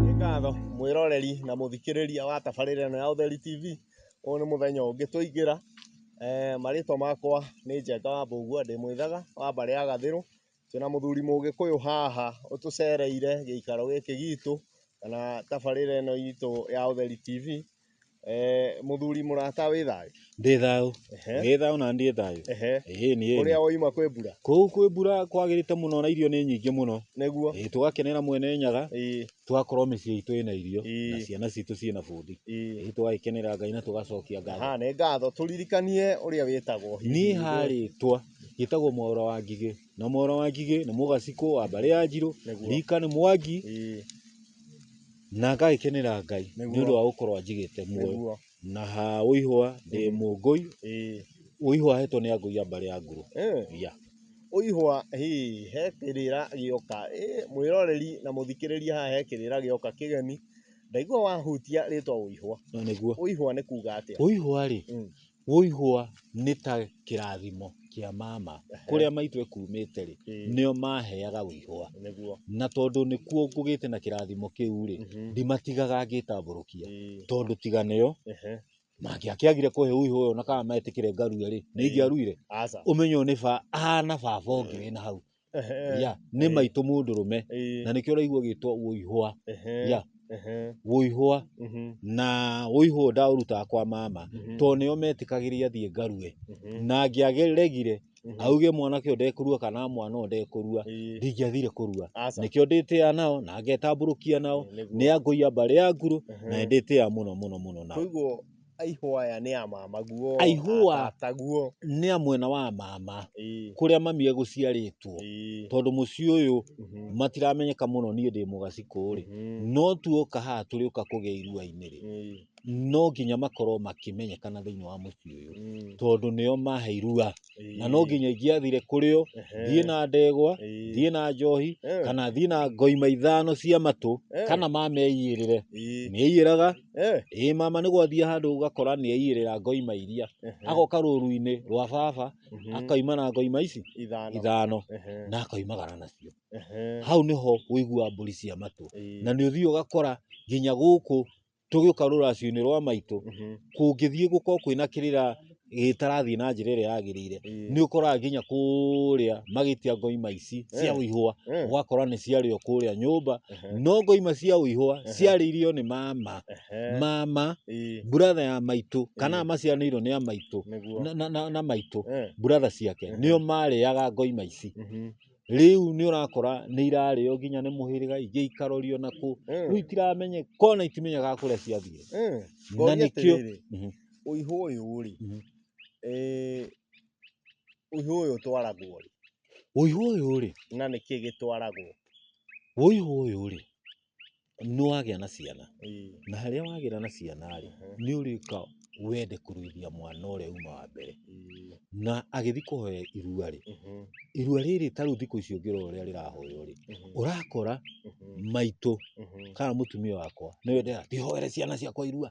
Nĩ ngatho mwĩroreri na mũthikĩrĩria wa tabarĩra ĩno ya Ũtheri TV. Ũyũ nĩ mũthenya ũngĩ twaingĩra. Eh, Marĩtwa makwa nĩ Njenga wa Mbũgua ndĩ mwĩthaga wa mbarĩ ya Gathĩrũ. Twĩna mũthuri mũgĩkũyũ haha ũtũcereire gĩikaro gĩkĩ gitũ kana tabarĩra ĩno itũ ya Ũtheri TV. Eh, muthuri murata wi thayu. Ndĩ thayũ. Ehe. Ndĩ thayũ na ndiĩ thayũ. Ehe. Ĩĩ nĩ Kuria ĩni. woima kwi mbura. Kũu kwĩ mbura kwagĩrĩte mũno na irio nĩ nyingĩ mũno. Niguo. Ĩĩ tũgakenera mwene Nyaga Ii. tũgakorwo mĩciĩ itũ ĩna irio Ii. na ciana citũ ciĩna bundi. Ii. Ĩĩ tũgagĩkenera Ngai na tũgacokia ngatho. Ha, nĩ ngatho. Turirikanie uria witagwo. Niĩ harĩtwa gĩtagwo Mwaũra wa Ngigĩ na Mwaũra wa Ngigĩ nĩ mũgacikũ wa mbarĩ ya Njirũ. Nĩguo. Rika nĩ Mwangi. Ii. Na ngagĩkenera Ngai nĩ Nĩguo. ũndũ wa gũkorwo anjigĩte muoyo nĩguo na ha ũihwa ndĩ Mm. mũngũi ĩĩ ũihwa hetwo nĩ angũia mbarĩ ya nguru Eh, ya ũihwa hĩ he kĩrĩra gĩoka Ĩ, mwĩroreri na mũthikĩrĩria haha he kĩrĩra gĩoka kĩgeni ndaigua wahutia rĩtwa ũihwa no nĩguo ũihwa nĩ kuga atĩa ũihwa rĩ Mm. Wũihũwa nĩ ta kĩrathimo kĩa mama. Kũrĩa maitũ ekumĩte rĩ, nĩo maheaga wũihũwa. Na tondũ nĩkuo ngũgĩte na kĩrathimo kĩu rĩ, ndimatigaga ngĩtambũrũkia. Tondũ tiga nĩo, mangĩakĩagire kũhe wũihũwa ũyũ na kana metĩkĩre ngarue rĩ, nĩ ingĩaruire? Ũmenyo nĩ ba, aah na baba ũngĩ wĩna hau. Ehe. ya nĩ Eh. maitũ mũndũrũme Ĩĩ. na nĩkĩo ũraigua ũgĩtwo ũihwa Ehe. ya Ehe. ũihwa Mhm. na ũihwa ũyũ ndaũrutaga kwa mama Mhm. tondũ nĩo metikagĩria thiĩ ngarue Mhm. na ngĩageregire Mhm. auge mwanake ũyũ ndekũrua kana mwana ũyũ ndekũrua Ĩĩ. ndingĩathire kũrua Aca. nĩkĩo ndĩtĩa nao na ngetambũrũkia nao Nĩguo. nĩ angũia mbarĩ ya nguru Ehe. na nĩ ndĩtĩa mũno mũno mũno nao Koguo Aihũa aya nĩ a mama guo. Aihũa. A tata guo. Nĩ a mwena wa mama. Ĩĩ. Kũrĩa mami egũciarĩtwo. Ĩĩ. Tondũ mũciĩ ũyũ mhm. matiramenyeka mũno niĩ ndĩ mũgaci kũrĩ. Mhm. No tuoka haha tũrĩ ũka kũgĩa iruainĩ rĩ. No nginya makorwo makĩmenyekana thĩinĩ wa mũciĩ ũyũ. Mm. Tondũ nĩo mahe irua. Na no nginya ingĩathire kũrĩ o, thiĩ na ndegwa, thiĩ na njohi, eh. kana thiĩ na ngoima ithano cia matũ, eh. kana mameiyĩrĩre. Nĩeiyĩraga. Eh, ĩĩ mama nĩ gwathiĩ handũ ũgakora nĩ aiyĩrĩra ngoima iria ehe, agoka rũru-inĩ rwa baba mhm, akaima na ngoima ici Ithano. ithano Ehe, na akoimagara nacio ehe, hau nĩho ũiguaga mbũri cia matũ ĩĩ, na nĩ ũthiĩ ũgakora nginya gũkũ tũgĩũka rũracio-inĩ rwa maitũ mhm, kũngĩthiĩ gũkorwo kwĩna kĩrĩra gĩtarathiĩ na njĩra ĩrĩa yagĩrĩire Ĩĩ. nĩ ũkoraga nginya kũrĩa magĩtia ngoima ici cia Eh. ũihũa Eh. ũgakora nĩ ciarĩo kũrĩa nyũmba Ehe. no ngoima cia ũihũa Ehe. ciarĩirio nĩ mama Ehe. mama Ĩĩ. buratha ya maitũ kana Ĩĩ. maciaranĩirwo nĩ a maitũ Nĩguo. na, na, na, na maitũ Eh. buratha ciake Ehe. nĩo marĩaga ngoima ici Mhm. rĩu nĩ ũrakora nĩ irarĩo nginya nĩ mũhĩrĩga ingĩ ikarorio na kũ Eh. rĩu itiramenye kona itimenyaga kũrĩa ciathiĩ Eh. Na Ngoria nĩkĩo- atĩrĩrĩ, Mhm. Ũihũ ũyũ rĩ, ũihũ ũyũ ũtwaragwo rĩ? Ũihũ ũyũ rĩ? Na nĩkĩ gĩtwaragwo? Ũihũ ũyũ rĩ, nĩ wagĩa na ciana, na harĩa wagĩĩra na ciana rĩ, nĩ ũrĩũka wende kũruithia mwana ũrĩa uma wa mbere. Na agĩthiĩ kũhoya irua rĩ, irua rĩrĩ ta rĩu thikũ ici ũngĩrora ũrĩa rĩrahoywo rĩ, ũrakora maitũ kana mũtumia wakwa nĩwe ũrenda ati hoere ciana ciakwa irua.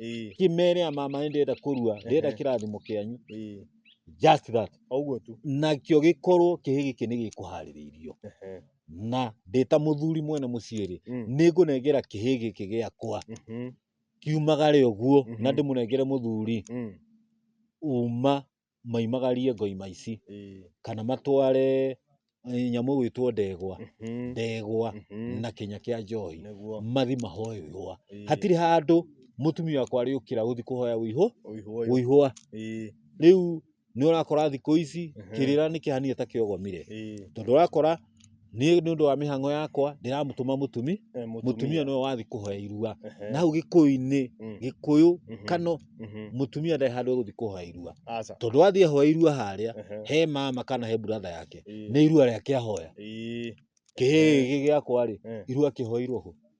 Ĩĩ, kĩmere mama nĩ ndĩrenda kũrua ndĩrenda Ehe. kĩrathimo kĩanyu ĩĩ, just that o ũguo tu. nakĩo gĩkorwo kĩhĩ gĩkĩ nĩ gĩkũharĩrĩirio Ehe. na ndĩta mũthuri mwene mũciĩ rĩ Mm. nĩ ngũnengera kĩhĩ gĩkĩ gĩakwa Mhm. kiumagare ũguo na Mhm. ndĩmũnengere mũthuri Mm. uma maimagarie ngoima ici kana matware nyamũ ĩgwĩtwo ndegwa, ndegwa na kĩnya kĩa njohi mathi mahoe ihũa. Hatirĩ handũ mũtumia wakwa arĩũkĩra gũthi kũhoya ũihũa. Rĩu nĩ ũrakora thikũ ici kĩrĩra nĩ kĩhana ta kĩogomire tondũ ũrakora... Niĩ nĩ ũndũ wa mĩhang'o yakwa ndĩramũtũma mũtumi, Eh, mũtumia nĩwe wathiĩ kũhoya irua. Ehe. Na hau gĩkũyũ-inĩ, Mm. gĩkũyũ, Mhm. kano, Mhm. mũtumia ndarĩ handũ egũthiĩ kũhoya irua. Aca. Tondũ athiĩ ahoya irua harĩa, Ehe. he mama kana he brother yake, Ĩĩ. nĩ irua rĩake ahoya. Ĩĩ. Kĩhĩĩ gĩkĩ gĩakwa-rĩ, Eh. irua akĩhoeirwo kũ?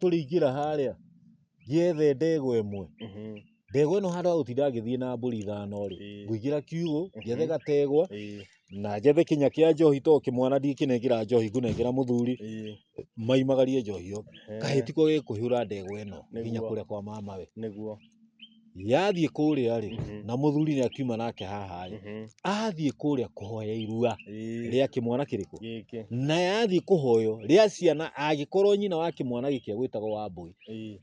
tũrĩingĩra harĩa ngĩethe ndegwa ĩmwe ndegwa ĩno handũ ha gũtinda ngĩthiĩ na mbũri ithano rĩ Ĩĩ. ngũingĩra kiugũ njethe Mhm. gategwa Ĩĩ, na njethe kĩnya kĩa njohi to kĩmwana ndingĩkĩnengera njohi ngũnengera mũthuri ĩĩ, maimagarie njohi yo ehe, kahĩti ko gĩkũhũra ndegwa ĩno nginya Nĩguo. kũrĩa kwa mamawe nĩguo yathiĩ kũrĩa rĩ Mhm. na mũthuri nĩ akiuma nake haha rĩ Mhm. athiĩ kũrĩa kũhoya irua Ĩĩ. rĩa kĩmwana kĩrĩkũ Gĩkĩ. na yathiĩ kũhoyo rĩa ciana angĩkorwo nyina wa kĩmwana gĩkĩa gwĩtagwo wa mbũi Ĩĩ.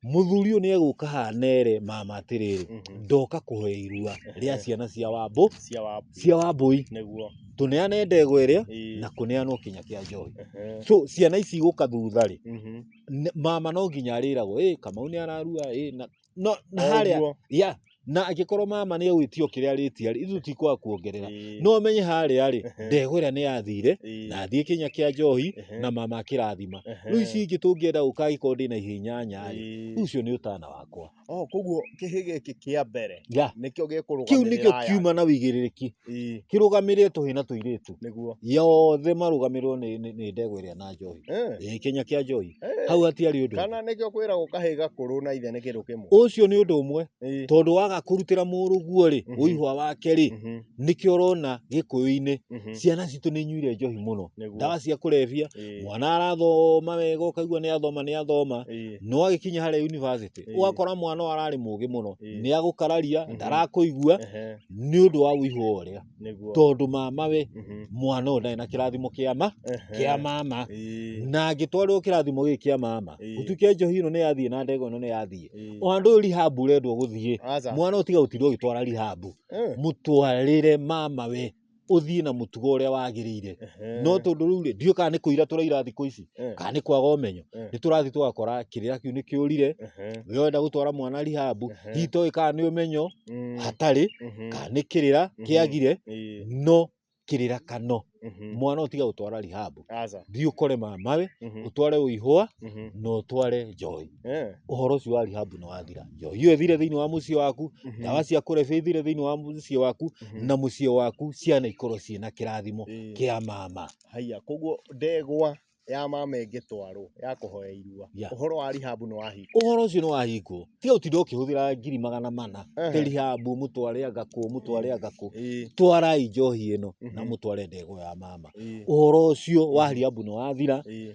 mũthuri ũyũ nĩ egũka haha nere mama atĩrĩrĩ Mhm. ndoka kũhoya irua rĩa ciana cia wambũ Cia wa. cia wambũi Nĩguo. tũneane ndegwa ĩrĩa Ĩĩ. na kũneanwo kinya kĩa njohi Ehe. so ciana ici igũka thutha rĩ Mhm. N- mama no nginya arĩragwo ĩ kamau nĩ ararua ĩ na no na O harĩa ũguo. ya na angĩkorwo mama nĩ agwĩtio kĩrĩa arĩtia rĩ ithuĩ tikwaga kuongerera Ĩĩ, no menye harĩa rĩ Ehe. ndegwa ĩrĩa nĩ yathire ĩĩ, na thiĩ kĩnya kĩa njohi ehe, na mama akĩrathima ehe, rĩu ici ingĩ tũngĩenda gũka agĩkorwo ndĩ na ihinyanya rĩ ĩĩ. rĩu ũcio nĩ ũtana wakwa Oh, koguo kĩhĩ gĩkĩ kĩa mbere ya nĩkĩo kĩu nĩkĩo gĩkũrũgamĩrĩra aya. kiuma na wĩigĩrĩrĩki Ii. kĩrũgamĩrĩre tũhĩ na tũirĩtu Nĩguo. yothe marũgamĩrĩrwo nĩ, nĩ, nĩ ndegwa ĩrĩa na njohi Eh. Ĩĩ, kĩnya kĩa njohi Eh. hau hatiarĩ ũndũ Kana nĩkĩo kwĩragwo kahĩ gakũrũ na ithe nĩ kĩndũ kĩmwe. ũcio nĩ ũndũ ũmwe Ii. tondũ waga kũrutĩra mũrũguo rĩ Mhm. ũihwa wake rĩ Mhm. nĩkĩo ũrona gĩkũyũ-inĩ Mhm. ciana citũ nĩ inyuire njohi mũno Nĩguo. ndawa cia kũrebia Ii. mwana arathoma wega ũkaigua nĩ athoma nĩ athoma Ii. no agĩkinya harĩa yunivasĩtĩ Ĩĩ. ũgakora mwana ũyũ ararĩ mũgĩ mũno Ĩĩ. nĩ agũkararia Mhm. ndarakũigua Ehe. nĩ ũndũ wa ũihu wa ũrĩa nĩguo tondũ mama we Mhm. mwana ũyũ ndarĩ na kĩrathimo kĩa ma Ehe. kĩa mama Ĩĩ, na angĩtwarĩrwo kĩrathimo gĩkĩ kĩa mama Ĩĩ. gũtuĩke njohi ĩno nĩ yathiĩ na ndego ĩno nĩ yathiĩ ĩĩ. o handũ ũyũ rihabu ũrendwo gũthiĩ Aca. mwana ũtiga gũtinda ũgĩtwara rihabu Eh. mũtwarĩre mama we ũthiĩ na mũtugo ũrĩa wagĩrĩire Ehe. no tondũ rĩu rĩ ndiũ kana nĩ kũira tũraira thikũ ici Eh. kana nĩ kwaga ũmenyo Eh. nĩ tũrathiĩ tũgakora kĩrĩra kĩu nĩ kĩũrire Ehe. we wenda gũtwara mwana rihabu Ehe. hihi toĩ kana nĩ ũmenyo Mm. hatarĩ Mhm. kana nĩ kĩrĩra Mhm. kĩagire Ĩĩ. no kĩrĩra kano Mhm. mwana ũtiga gũtwara rihabu aca thiĩ ũkore mamawe Mhm, ũtware ũihũa mhm, na ũtware njohi eh, ũhoro ũcio wa rihabu nĩ wathira njohi ĩyo ĩthire thĩinĩ wa mũciĩ waku mhm, ndawa cia kũrebia ithire thĩinĩ wa mũciĩ waku mhm. na mũciĩ waku ciana ikorwo ciĩ na kĩrathimo Ĩĩ. kĩa mama haiya koguo ndegwa ya mama ĩngĩtwarwo ya kũhoya irua Yeah. ũhoro wa rihabu nĩ wahinga ũhoro ũcio nĩ wahingwo tiga gũtinda ũkĩhũthĩra ngiri magana mana Ehe. telihabu mũtware agakũ mũtware agakũ Ĩĩ, twarai njohi ĩno na Mhm. mũtware ndego ya mama ĩĩ, ũhoro ũcio wa hariabu nĩ wathira ĩĩ.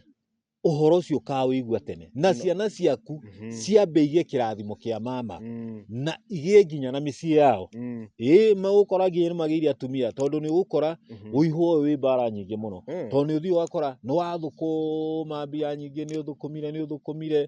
ũhoro ũcio ũkawĩigua tene na No. ciana ciaku Mhm. ciambe igĩe kĩrathimo kĩa mama Mm, na igĩe nginya na mĩciĩ yao mm, ĩĩ magũkora nginya nĩ magĩire atumia tondũ nĩ ũgũkora mhm. ũihũ ũyũ wĩ mbara nyingĩ mũno Mm, tondũ nĩ ũthiĩ ũgakora nĩ wathũkũma mbia nyingĩ nĩ ũthũkũmire nĩ ũthũkũmire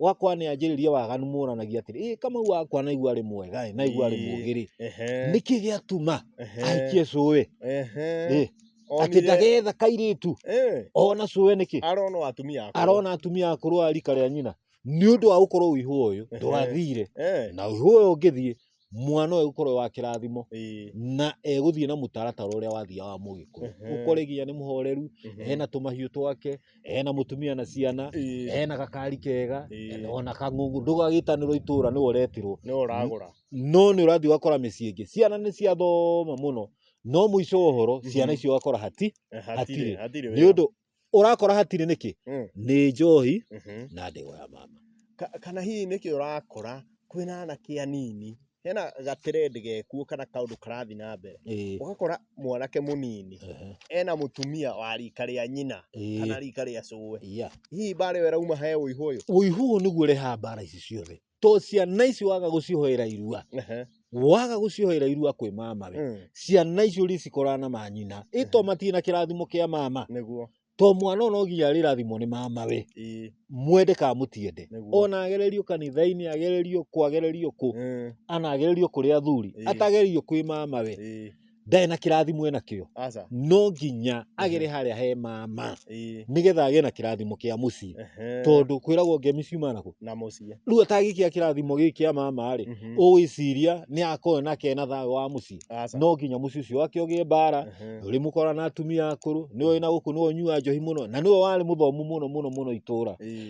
ũgakora nĩ anjĩrĩria waganu moranagia atĩrĩ ĩ kamau wakwa naigua arĩ mwega ĩ naigua arĩ mũgĩ rĩ nĩkĩ gĩatuma ahikie cũĩ ĩ atĩ ndagetha kairĩtu ona cũĩ nĩkĩ arona atumia akũrũ arona atumia akũrũ a rika rĩa nyina nĩ ũndũ wa gũkorwo ũihũ ũyũ ndwathire na ũihũ ũyũ ũngĩthiĩ mwana ũyũ gũkorwo wa kĩrathimo Ĩĩ. na egũthiĩ na mũtaratara ũrĩa wathiaga wa mũgĩkũyũ Ehe. ũkore nginya nĩ mũhoreru Mhm. ena tũmahiũ twake ena mũtumia na ciana Ĩĩ. ena gakari kega Ĩĩ. ona kang'ũng'u ndũgagĩtanĩrwo itũra nĩwe ũretirwo nĩ ũragũra no nĩ ũrathiĩ ũgakora mĩciĩ ĩngĩ ciana nĩ ciathoma mũno no mũico wa ũhoro ciana Mhm. icio ũgakora hati hatirĩ hatirĩ nĩ ũndũ ũrakora hatirĩ nĩkĩ Mm. nĩ njohi Mhm. na ndĩgo ya mama Ka- kana hihi nĩkĩ ũrakora kwĩna anake anini hena gaterendi gekuo kana kaũndũ karathi na mbere Ĩĩ, ũgakora mwanake mũnini ehe, ena mũtumia wa rika rĩa nyina ĩĩ, kana rika rĩa cũwe yeah. hihi mbarĩ we rauma he ũihu ũyũ ũihu ũyũ nĩguo ũrehaga mbara ici ciothe to ciana ici waga gucihoera irua Ehe. waga gucihoera irua kwi mama we Mm. ciana icio ricikorana na manyina ito matirĩ na kĩrathimo kĩa mama nĩguo to mwana ona ũginya arĩrathimwo nĩ mama we Ii. mwende ka mũtiende Nĩguo. ona agererio kanitha-inĩ agererio kwagererio kũ Mm. ana agererio kũrĩ athuri Ĩĩ. atagererio kwĩ mama we Ii. ndarĩ na kĩrathimo ena kĩo aca no nginya agere harĩa he mama ĩĩ nĩgetha agĩe na kĩrathimo kĩa mũciĩ ehe tondũ kwĩragwo ngemi ciumaga nakũ na mũciĩ rĩu atagĩkia kĩrathimo gĩkĩ kĩa mama rĩ Mhm. ũgwĩciria nĩ akorwo nake na thayũ wa mũciĩ aca no nginya mũciĩ ũcio wake ũgĩe mbara Ehe. rĩ mũkora na atumia akũrũ nĩwe wĩna gũkũ nĩwe ũnyua njohi mũno na nĩwe warĩ mũthomu mũno mũno mũno itũra Ĩĩ.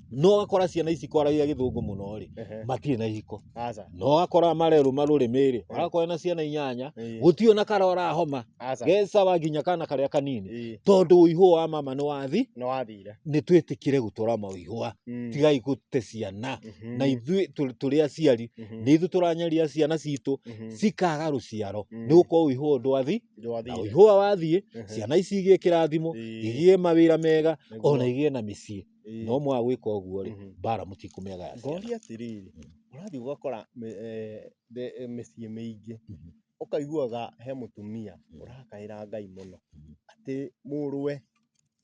no ũgakora ciana ici kwaragia gĩthũngũ mũno rĩ Ehe. matirĩ na ihiko Aca. no ũgakora marerũ marũrĩmĩ rĩ ũrakora na ciana inyanya Ĩĩ. gũtirĩ ona karora homa Aca. gecawa nginya kana karĩa kanini Ĩĩ. tondũ ũihũ wa mama nĩ wathi Nĩ wathire. nĩ twĩtĩkĩre gũtũra maũihũa Mm. tigai gũte ciana Mhm. na ithuĩ tũ- tũrĩ aciari Mhm. nĩ ithuĩ tũranyaria ciana citũ Mhm. cikaga rũciaro Mm. nĩ gũkorwo ũihũa ndwathi na Ndwathire. ũihũa wathiĩ Mhm. ciana ici igĩe kĩrathimo Ĩĩ. igĩe mawĩra mega Nĩguo. ona igĩe na mĩciĩ Ĩĩ. no mwaga gwĩka ũguo rĩ Mhm. mbara mũtikũmĩagaya ciana ngoria atĩrĩrĩ Mm. ũrathiĩ ũgakora mĩ- eh, the- eh, mĩciĩ mĩingĩ Mhm. ũkaiguaga he mũtumia Mm. ũrakaĩra ngai mũno Mhm. atĩ mũrũwe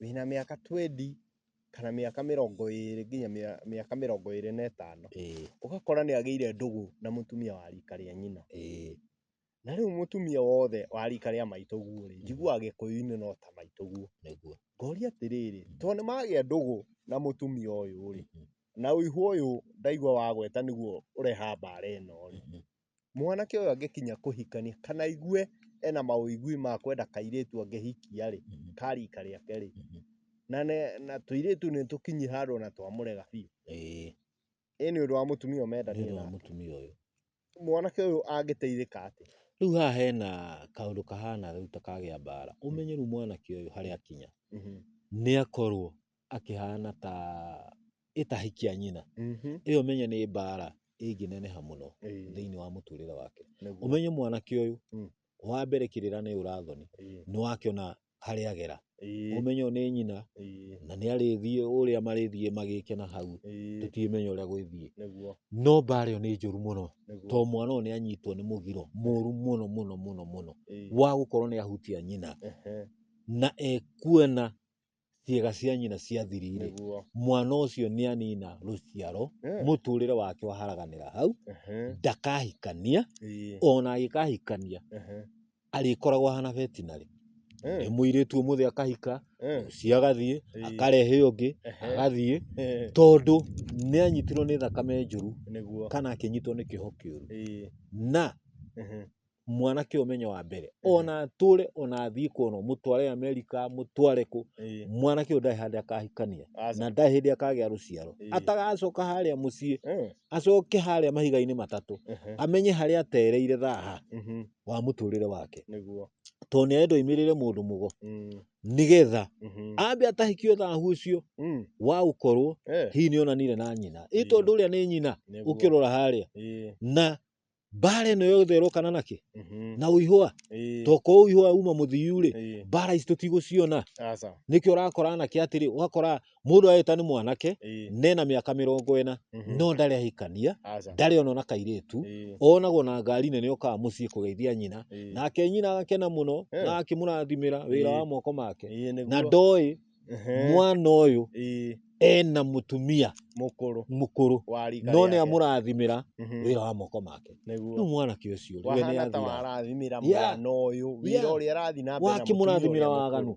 wĩna mĩaka 20 kana mĩaka mĩrongo ĩrĩ nginya mĩa- mĩaka mĩrongo ĩrĩ na ĩtano Ĩĩ, ũgakora nĩ agĩire ndũgũ na mũtumia wa rika rĩa nyina ĩĩ, Na rĩu mũtumia wothe wa rika rĩa maitũguo rĩ, njiguaga gĩkũyũ-inĩ no ta maitũguo. Nĩguo. Ngoria atĩrĩrĩ, to nĩ magĩa ndũgũ na mũtumia ũyũ rĩ, Mhm. na ũihũ ũyũ ndaigua wagweta nĩguo ũrehaga mbara ĩno rĩ, Mhm. mwanake ũyũ angĩkinya kũhikania kana aigue ena maũigui ma kwenda kairĩtu angĩhikia rĩ, Mhm. ka rika rĩake rĩ, Mhm. na, ne, na tũirĩtu nĩ tũkinyi handũ na twamũrega biũ. Ĩĩ. Ĩĩ nĩ ũndũ wa mũtumia ũyũ nĩ ũndũ wa mendanĩire nake. mũtumia ũyũ. Mwanake ũyũ angĩteithĩka atĩa? Rĩu haha hena kaũndũ kahana rĩu ta kagĩa mbara. Ũmenye rĩu mwanake ũyũ harĩa akinya, nĩ akorwo akĩhana ta ĩ ta hiki a nyina. Ĩyo ũmenye nĩ mbara ĩngĩneneha mũno Ĩĩ, thĩinĩ wa mũtũrĩre wake. nĩguo. Ũmenye mwanake ũyũ, Mm. wa mbere kĩrĩra nĩ ũra thoni, Ĩĩ. nĩ wakĩona harĩa agera. Ĩĩ. Ũmenye ũyũ nĩ nyina, Ĩĩ. na nĩ arĩthiĩ ũrĩa marĩthiĩ magĩke na hau, Ĩĩ. tũtiũmenya ũrĩa gwĩthiĩ. Nĩguo. No mbaara ĩyo nĩ njũru mũno, Nĩguo. to mwana ũyũ nĩ anyitwo nĩ mũgiro mũru mũno mũno mũno mũno, Ĩĩ. wa gũkorwo nĩ ahutia nyina, Ehe. na ekuona ciĩga cia nyina ciathirire. Nĩguo. Mwana ũcio nĩ anina rũciaro, Eh. mũtũrĩre wake waharaganĩra hau, Ehe. ndakahikania, Ĩĩ. ona agĩkahikania, Ehe. arĩkoragwo ahana vetinarĩ nĩ mũirĩtu ũmũthĩ akahika ũcio agathiĩ akarehe ũngĩ agathiĩ tondũ nĩ anyitirwo nĩ thakame njũru kana akĩnyitwo nĩ kĩho kĩũru na mwanake ũmenyo wa mbere ona atũre ona athiĩ kwona mũtware Amerika mũtware kũ mwanake ũyũ ndarĩ handũ akahikania na ndarĩ hĩndĩ akagĩa rũciaro atagacoka harĩa mũciĩ acoke harĩa mahiga-inĩ matatũ amenye harĩa atereire thaha. wa mũtũrĩre wake nĩguo tondũ nĩ arenda oimĩrĩre mũndũ mũgo Mm, nĩgetha mhm, ambe atahikio thahu ũcio mm, wa gũkorwo eh, hihi nĩ onanire na nyina ĩ Ĩĩ. tondũ ũrĩa nĩ nyina nĩguo. ũkĩrora harĩa Ĩĩ, na mbara ĩno yothe ĩrokana nakĩ mhm, na ũihũa ĩĩ, toko ũihũa uma mũthiu-rĩ ĩĩ, mbara ici tũtigũciona aca nĩkĩo ũrakora anake atĩrĩ ũgakora mundu areta ni mwanake Ĩĩ. ne na miaka mirongo ena Mhm. no ndari ahikania Aca. ndari ona na kairitu Ĩĩ. onagwo na ngari nene okaga mucii kugeithia nyina Ĩĩ. nake nyina agakena muno Eh. na akimurathimira wira Ĩĩ. wa moko make Ĩĩ, nĩguo. na ndoi Ehe. mwana uyu Ĩĩ. ena mutumia Mũkũrũ. mukuru Wa rika no ni rĩake. amurathimira Mhm. wira wa moko make Nĩguo. riu mwanake ucio we ni Wahana ta athira warathimĩra Yeah. mwana ũyũ wĩra Yeah. ũrĩa arathi na mbere na mũtumia wakimurathimira ũrĩa mũkũrũ. waganu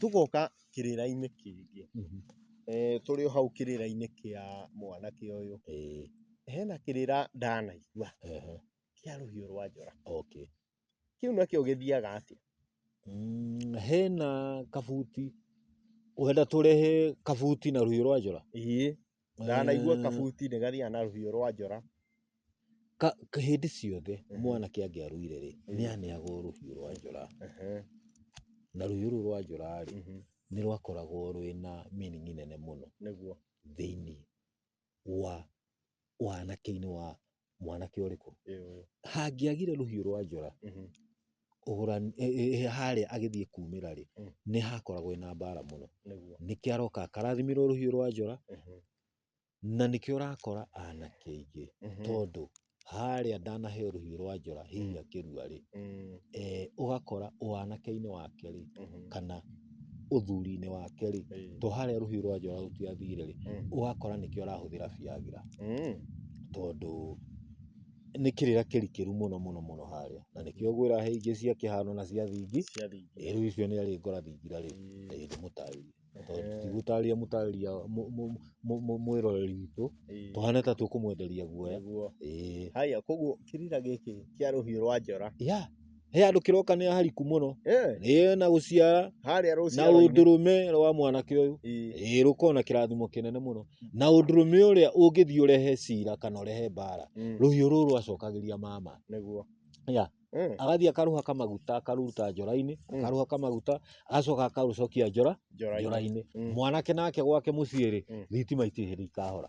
Tũgoka kĩrĩra-inĩ kĩngĩ, tũrĩ o hau kĩrĩra-inĩ kĩa mwanake ũyũ, hena kĩrĩra ndanaigua kĩa rũhiũ rwa njora. Kĩu nakĩo gĩthiaga atĩa? Hena kabuti, ũrenda tũrehe kabuti na rũhiũ rwa njora? ndanaigua kabuti nĩ gathiaga na rũhiũ rwa njora hĩndĩ ciothe mwanake angĩarũire rĩ nĩ aneagwo rũhiũ rwa njora na rũhiũ rũu rwa njora rĩ nĩ rwakoragwo rwĩna meaning nene mũno thĩinĩ wa wanake-inĩ wa mwanake ũrĩkũ hangĩagire rũhiũ rwa njora mhm. e, harĩa agĩthiĩ kumĩra rĩ mm. nĩ hakoragwo ĩna mbara mũno nĩkĩ aroka akarathimirwo rũhiũ rwa njora mhm. na nĩkĩo ũrakora anake aingĩ mhm. tondũ harĩa ndanaheo rũhiũ rwa njora hihi mm. akĩrua rĩ mm. e, ũgakora wanake-inĩ wake rĩ kana ũthuri-inĩ wake rĩ to harĩa rũhiũ rwa njora rũtiathire rĩ Mm. ũgakora nĩkĩo arahũthĩra biagira Mm. tondũ nĩ kĩrĩra kĩrikĩru mũno mũno mũno harĩa na nĩkĩo ngwĩra he ingĩ cia kĩhano na cia thingi Cia thingi. Eh, rĩu icio nĩ arĩ ngora thingira rĩ Mm. eh, ndĩmũtarĩrie tondũ Ehe. tigũtarĩria mũtarĩria mũ- mũ- mũ- mũ- mwĩroreri witũ Ĩĩ. tũhane ta tũkũmwenderia guoya Nĩguo. Eh, Haya, koguo kĩrira gĩkĩ kĩa rũhiũ rwa njora ya he handå kä roka nä ahariku må no eh, na gå ciara harĩa na rũciaro-inĩ. ũndũrũme rwa mwanake ũyũ Ĩĩ. ĩĩ rũkorwo na kĩrathimo kĩnene mũno na ũndũrũme ũrĩa ũngĩthiĩ ũrehe cira kana ũrehe mbara Mm, rũhiũ rũrũ rwacokagĩria mama nĩguo Ya. Eh, agathiĩ akarũha kamaguta akaruta njora-inĩ Mm. akarũha kamaguta agacoka akarũcokia njora njora-inĩ njora-inĩ Mm. mwanake nake gwake mũciĩ-rĩ Mm. thitima itirĩ hĩndĩ ikahora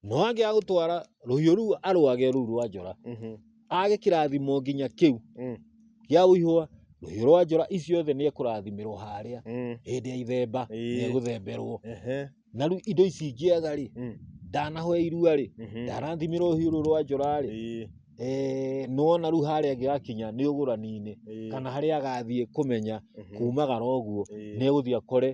No angĩaga gũtwara rũhiũ rũu arwage rũu rwa njora, Mhm. age kĩrathimo nginya kĩu Mm. gĩa ũihũa, rũhiũ rwa njora icio othe nĩ ekũrathimirwo harĩa Mm. hĩndĩ ya ithemba Ĩĩ. nĩ egũthemberwo. Ehe. Na rĩu indo ici ingĩaga rĩ, Mm. ndanahoya irua rĩ, Mhm. ndarathimirwo rũhiũ rũu rwa njora rĩ, Ĩĩ. eh, nĩwona rĩu harĩa angĩgakinya nĩ ũgũrani-inĩ Ĩĩ. kana harĩa agathiĩ kũmenya Mhm. kumagara ũguo Ĩĩ. nĩ egũthiĩ akore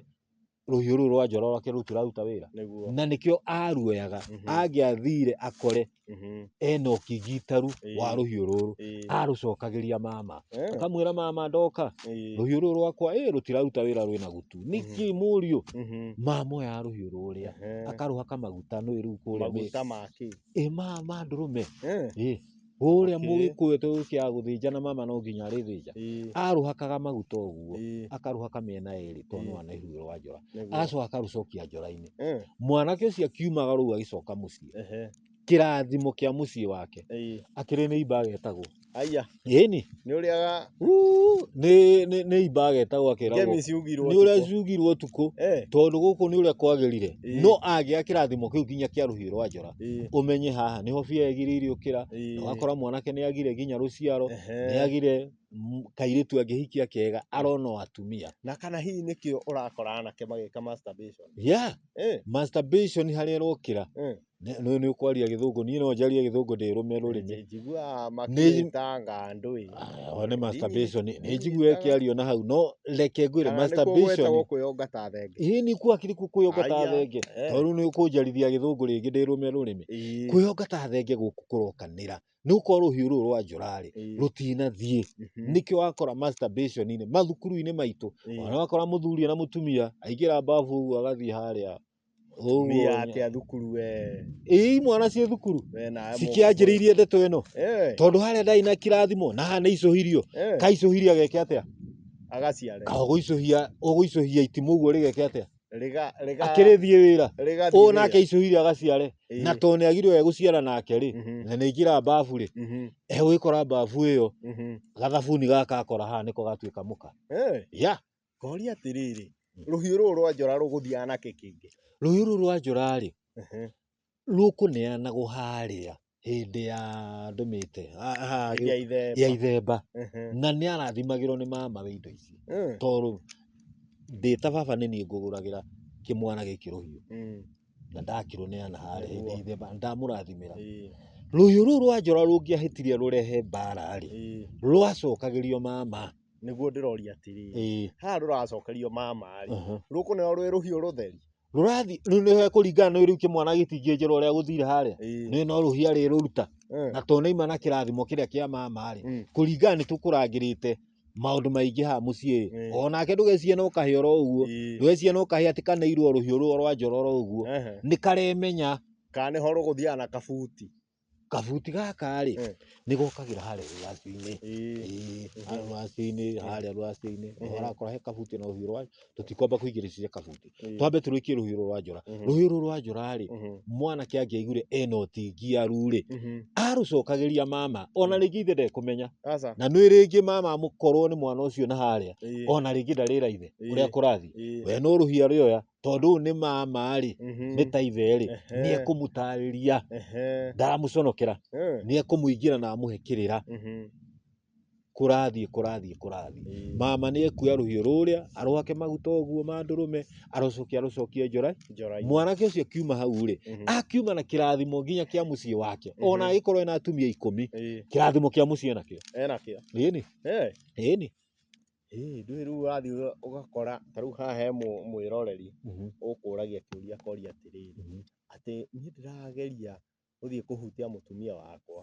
rũhiũ rũu rwa njora rwake rũtiraruta wĩra nĩguo na nĩkĩo aruoyaga Mhm. angĩathire akore Mhm. ena ũkigitaru Ĩĩ. wa rũhiũ rũrũ Ĩĩ. arũcokagĩria mama Eh, akamwĩra mama ndoka ĩĩ. rũhiũ rũrũ rwakwa ĩ rũtiraruta wĩra rwĩna gutu nĩkĩ mũriũ Mhm. mama oya rũhiũ rũrĩa Ehe. akarũhaka maguta nĩ rĩu kũrĩa mĩ- maguta maki ĩ mama ndũrũme Eh, ĩ Ũrĩa Okay. mũgĩkũyũ ta ũyũ ũkĩaga gũthĩnja na mama no nginya arĩthĩnja. Ĩĩ, Arũhakaga maguta ũguo, ĩĩ, akarũhaka mĩena ĩrĩ tondũ nĩ Ĩĩ. wana ihuhĩro wa njora. nĩguo. Agacoka akarũcokia njora-inĩ. Eh, Mwanake ũcio akiumaga rũu agĩcoka mũciĩ. ehe, Kĩrathimo kĩa mũciĩ wake. ĩĩ. Akĩrĩ nĩimba agetagwo. Aya. Ĩĩni. Nĩ ũrĩaga Uu, nĩ nĩ nĩ imba agetagwo akeragwo ngemi ciugirwo. nĩ ũrĩa ũtukũ. ciugirwo ũtukũ Eh, tondũ gũkũ nĩ ũrĩa kwagĩrire Ĩĩ. no angĩa kĩrathimo kĩu nginya kĩa rũhiũ rwa njora ĩĩ, ũmenye haha nĩho bia yagire iriũkĩra ĩĩ. wakora mwanake nĩ agire nginya rũciaro Ehe. nĩ agire mm, kairĩtu angĩhikia kega arona o atumia Na kana hihi nĩkĩo ũrakora anake magĩka masturbation. ya Eh, masturbation harĩa ĩrokĩra eh. Nĩ nĩ ũkwaria gĩthũngũ niĩ no njarie gĩthũngũ ndĩrũme rũrĩmĩ. Njiguaga makĩtanga andũ ĩ. Aya nĩ masturbation nĩ njiguaga ĩkĩario na hau no reke ngwĩre Kana nĩkuo masturbation. gwetagwo kwĩyonga ta thenge. Ĩ nĩ kuo hakiri kũu kwĩyonga ta Aya, thenge. eh. Tondũ rĩu nĩ ũkũnjarithia gĩthũngũ rĩngĩ ndĩrũme rũrĩmĩ. Ĩĩ. Kwĩyonga ta thenge gũkũ kũrokanĩra. Nĩ gũkorwo rũhiũ rũrũ rwa njora rĩ Ĩĩ. rũtinathiĩ. Mhm. Nĩkĩo wakora masturbation inĩ mathukuru-inĩ maitũ. Ĩĩ. Ona wakora mũthuri ena mũtumia aingĩra mbabu ũguo agathiĩ harĩa Tumia atia thukuru we. Ii mwana ciĩ thukuru We na cikĩanjĩrĩirie ndeto ĩno Eh. tondũ harĩa ndarĩ na kirathimo na haha nĩ icũhirio Eh. kaicũhiria geke atĩa Agaciare. ũgũicũhia ũgũicũhia itimũ ũguo rĩgeke atĩa Riga riga. akĩrĩthiĩ wĩra Riga. ũũ nake icũhiria agaciare Ĩĩ. na tondũ nĩ agirwo egũciara nake rĩ Mhm. na nĩ ingĩra mbabu rĩ Mhm. egwĩkora mbabu ĩyo Mhm. gathabuni gaka akora haha nĩko gatuĩka mũka Eh. ya Ngoria atĩrĩrĩ, rũhiũ rũrũ rwa njora rũgũthiaga na kĩ kĩngĩ? Rũhiũ rũrũ rwa njora rĩ, rũkũneanagwo harĩa hĩndĩ ya ndũmĩte ya ithemba. Na nĩ arathimagĩrwo nĩ mamawe indo ici. Tondũ ndĩ ta baba nĩ niĩ ngũgũragĩra kĩmwana gĩkĩ rũhiũ. Na ndakĩrũneana harĩa hĩndĩ ya ithemba, ndamũrathimĩra. Rũhiũ rũrũ rwa njora rũngĩahĩtire rũrehe mbara rĩ, rwacokagĩrio mama. Nĩguo ndĩroria atĩrĩ, ĩĩ haha rũracokerio mama rĩ, aha. rũkũneo rwĩ rũhiũ rũtheri? rũrathi rĩu nĩ kũringana nĩ rĩu kĩmwana gĩtingĩnjĩra ũrĩa gũthire harĩa Ĩĩ. nĩ no rũhia rĩrũruta Eh. na to naima na kĩrathimo kĩrĩa kĩa mama rĩ Mm. kũringana nĩ tũkũrangĩrĩte maũndũ maingĩ haha mũciĩ Ĩĩ. o nake ndũgecirie no kahĩ oro ũguo Ĩĩ. ndũgecirie no kahĩ atĩ kaneirwo rũhiũ rũo rwa njora oro ũguo Ehe. nĩ karemenya Kana nĩho rũgũthiaga na kabuti. Kabuti gaka rĩ, Eh. nĩ gokagĩra harĩa rũracio-inĩ. Ĩĩ. Harĩa rũracio-inĩ, harĩa rũracio-inĩ. Nĩ Ehe. ũrakora he kabuti na rũhiũ rwa, tũtikwamba kũingĩrĩciria kabuti. Ĩĩ. Twambe tũrĩkie rũhiũ rũrũ rwa njora. Mhm. Rũhiũ rũrũ rwa njora rĩ, Mhm. mwanake angĩaiguire ena ũtingiaru rĩ, Mhm. arũcokagĩria mama. Ona rĩngĩ ithe ndekũmenya. Aca. Na nĩ rĩngĩ mama amũkorwo nĩ mwana ũcio na harĩa. Ĩĩ. Ona rĩngĩ ndarĩra ithe Ĩĩ. ũrĩa kũrathiĩ. Ĩĩ. We no rũhiũ arĩoya, tondũ ũyũ nĩ mama rĩ Mhm. nĩ ta ithe rĩ Ehe. nĩ ekũmũtarĩria Ehe. ndaramũconokera Eh. nĩ ekũmũingĩra na amũhe kĩrĩra Mhm. kũrathiĩ kũrathiĩ kũrathiĩ Ĩĩ. mama nĩ ekuoya rũhiũ rũrĩa arwake maguta ũguo ma ndũrũme arocokia arũcokie njora Njora ici. mwanake ũcio akiuma hau rĩ Mhm. akiuma na kĩrathimo nginya kĩa mũciĩ wake ona Mhm. agĩkorwo ena atumia ikũmi Ĩĩ. kĩrathimo kĩa mũciĩ nakĩo Enakĩo. ĩni Eh. ĩni Ĩĩ ndũĩ rĩu wathiĩ ũgakora ta rĩu haha he mwĩroreri ũkũragia kĩũria akoria atĩrĩrĩ, atĩ niĩ ndĩrageria gũthiĩ kũhutia mũtumia wakwa,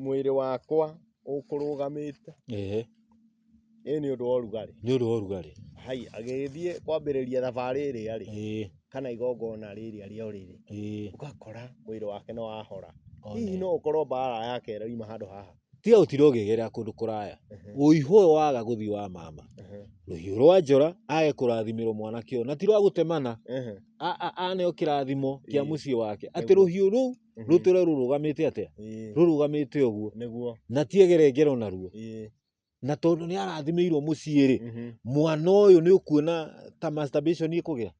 mwĩrĩ wakwa ũkũrũgamĩte ĩ nĩ ũndũ wa ũrugarĩ? Nĩ ũndũ wa ũrugarĩ. Haiya agĩthiĩ kwambĩrĩria thabarĩ ĩrĩa rĩ, kana igongona rĩrĩa rĩa ũrĩrĩ, ũgakora mwĩrĩ wake nĩ wahora. Hihi no ũkorwo mbara yake ĩrauma handũ haha tiga gũtinda ũngĩgerera kũndũ kũraya ũihũ ũyũ waga gũthiĩ wa mama rũhiũ rwa njora age kũrathimĩrwo mwanake ũyũ na ti rwa gũtemana a- a- aneo kĩrathimo kĩa Ĩĩ. mũciĩ wake atĩ Nĩguo. rũhiũ rũu rũtũre rũrũgamĩte atĩa rũrũgamĩte ũguo nĩguo na tiegere ngero naruo ĩĩ, na tondũ nĩ arathimĩirwo mũciĩ rĩ mhm. mwana ũyũ nĩ ũkuona ta masturbation ikũgĩa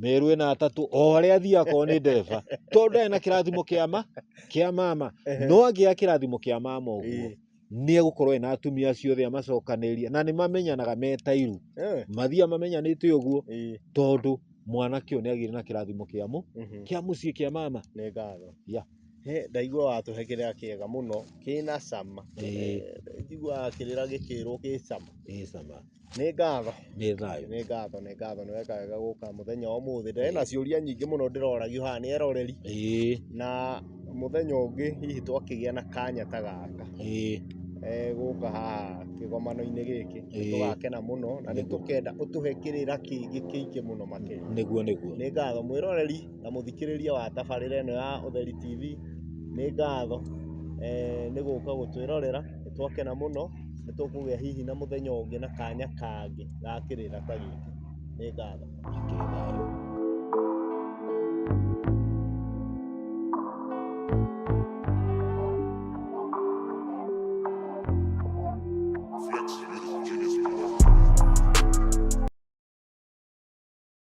mĩrũ ĩna atatũ o harĩa athiaga akorwo nĩ ndereba tondũ ndarĩ na kĩrathimo kĩa ma kĩa mama Ehe. no angĩya kĩrathimo kĩa mama ũguo Ĩĩ. nĩ egũkorwo ena atumia acio othe amacokanĩrĩria na nĩ mamenyanaga metairu Eh, mathiaga mamenyanĩte ũguo ĩĩ. tondũ mwanake ũyũ nĩ agĩire na kĩrathimo kĩa mũ Mhm. kĩa mũciĩ kĩa mama nĩ ngatho Ya. He, ndaigua watũhe kĩrĩa kĩega mũno kĩna cama Ĩĩ. Eh, njiguaga kĩrĩra gĩkĩrwo gĩ cama Ĩĩ cama. Nĩ ngatho. Nĩ thayũ. Nĩ ngatho, nĩ ngatho, nĩ weka wega gũka mũthenya wa ũmũthĩ. Ndarĩ na ciũria nyingĩ mũno ndĩroragio haha nĩ eroreri. Ĩĩ. Na mũthenya ũngĩ hihi twakĩgĩa na kanya ta gaka. Ĩĩ. Eh, gũka haha kĩgomano-inĩ gĩkĩ. Ĩĩ. Nĩ tũgakena mũno na nĩ tũkenda ũtũhe kĩrĩra kĩngĩ kĩingĩ mũno makĩria. Nĩguo, nĩguo. Nĩ ngatho. Mwĩroreri. na mũthikĩrĩria wa tabarĩra ĩno ya Ũtheri TV, nĩ ngatho nĩ gũka gũtwĩrorera, nĩ twakena mũno, nĩ tũkũgĩa hihi na mũthenya ũngĩ na kanya kangĩ ga kĩrĩra ta gĩkĩ. Nĩ ngatho. Mũikare thayũ.